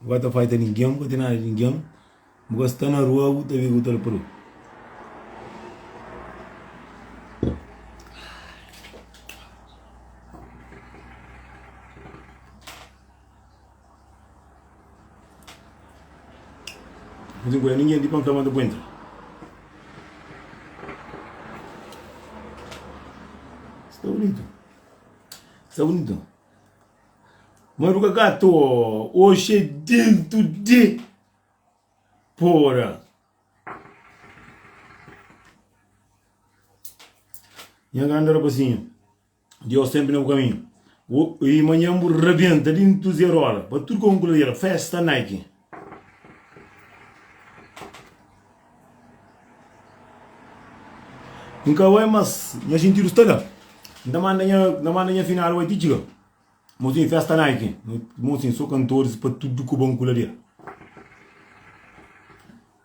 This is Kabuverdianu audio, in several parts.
Bu ka ta faita ningen, bu ka ten nada di ningen, bu ka sta na rua bu ta vive bu ta la padu. Nunka nkuda ningen di pa nfla ma ta guenta. Sta bunitu, sta bunitu. Maruca gato oxi é dentu de pora Nha grandi rapazinhu Diós tenpe na bu kaminhu Ui manhan bu rabenta dentu zerola Pa tudu kon ku ladera Festa Nike N ka bai mas nha xintidu sta da N ta manda nha N ta manda nha finadu bai ti txiga Mo sin festa na ki Mo sin so kantoris pa tudu ku ba N kula di el.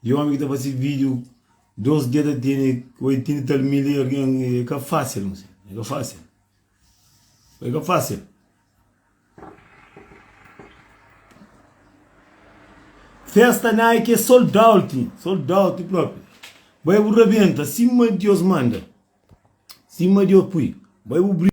Di omi ki ta fasi vidiu dos dia ta tini oitinti tal mil e algen e ka fasil msi e ka fasil e ka fasil festa nike e sold out sold out propi bai bu rabenta sima dios manda sima dios pui bai bu bri.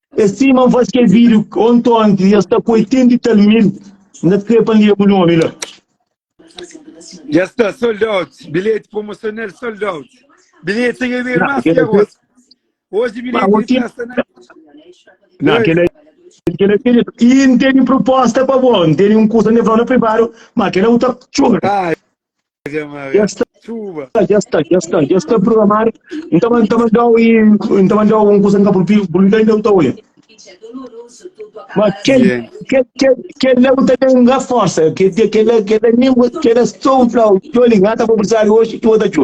E sima n faz ke vídeo onti onti i es ta ku 80 mil tal n ta krê pa n lê bu nomi la. Dja sta sold out bilheti promocional sold out bilheti ta ka bira más kel osi osi bilheti di trás sta na Nan kela kela kela i n tene proposta pa bo n tene un kusa n ta fla-u na privado ma kela u ta txora. Dja sta, dja sta, dja sta, dja sta programadu. N ta ban, ta ban dau i N ta ban dau un kusa n ka purpi, purpi ka inda N ta oia. Ma kel, Yeah. kel, kel, kel la bu ta ten nga forsa, kel, kel, kel, la- kel la nin bu, kel la só bu flau, tcholi, nga ta bu prisa di oxi, txu, bu ta txu.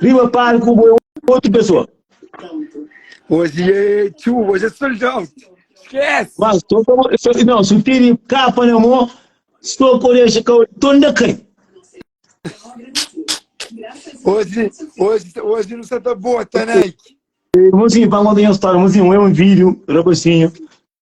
Riba palku bo é otu pesoa. Ozi é txu, ozi é sold out. Esquece! Mas só como, só, não, se eu tiro capa na mão, só quando eu chegar, tô ainda cai. Ozi, ozi, ozi não se tá bota, Nike. Mozinho, para contar uma história, mozinho, é um vídeo, rapazinho,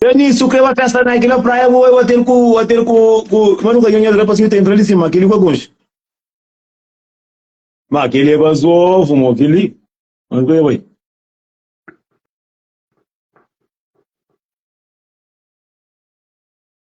Denis, su kre ba festa na kila praia bu bai hotel ku hotel ku ku ma nu ka nhanha el rapaz ki ta entra li sima kili ku é konxe. Ma kili é bazofu mo kili. Ma nu ka bai.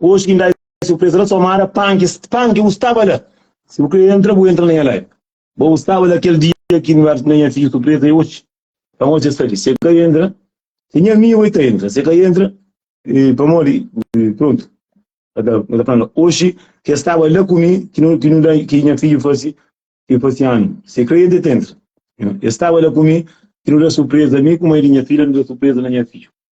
Oji ki ndai si bu presa la so mara panki, panki bu staba la. Si bu kre entra, bu entra na nha lai. Bo bu staba la kel dia ki nu era na nha fiju surpresa e oji. Pamodi ses ta di, se ka entra, se nha amigu e ta entra, se ka entra, e pamodi, e prontu. E ta, e ta fla no, oji ki e staba la ku mi ki nu, ki nu da, ki nha fiju fasi, ki fasi anu. Se kre entra, e ta entra. E staba la ku mi ki nu da surpresa, mi ku mai di nha fidja nu da surpresa na nha fiju.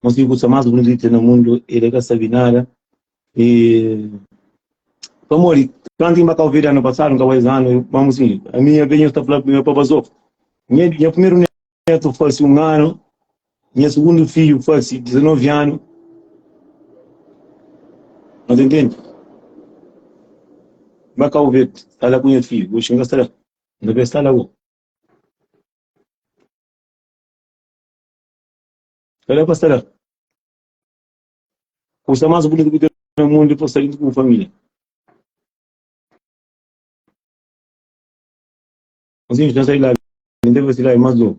Mas ki kusa mas bonita na mundu e de ka sabi nada. E pamodi kantu inba Cabo Verde anu pasadu, nka bai zanu, mamu si, a mi nha benhus ta fla pa bazo. Nha nha primeru netu fasi un anu, nha sugundu fiju fasi 19 anu. Mas entendi. Ba Cabo Verde, sta la ku nha fiju, oxi nka sta la. Nka bai sta la bo. Kal é konsera kusa más bunitu ki ten na mundu pa sta juntu ku bu família? Ansinhu, dja sai di la, dja N ta bai si la é más nobu.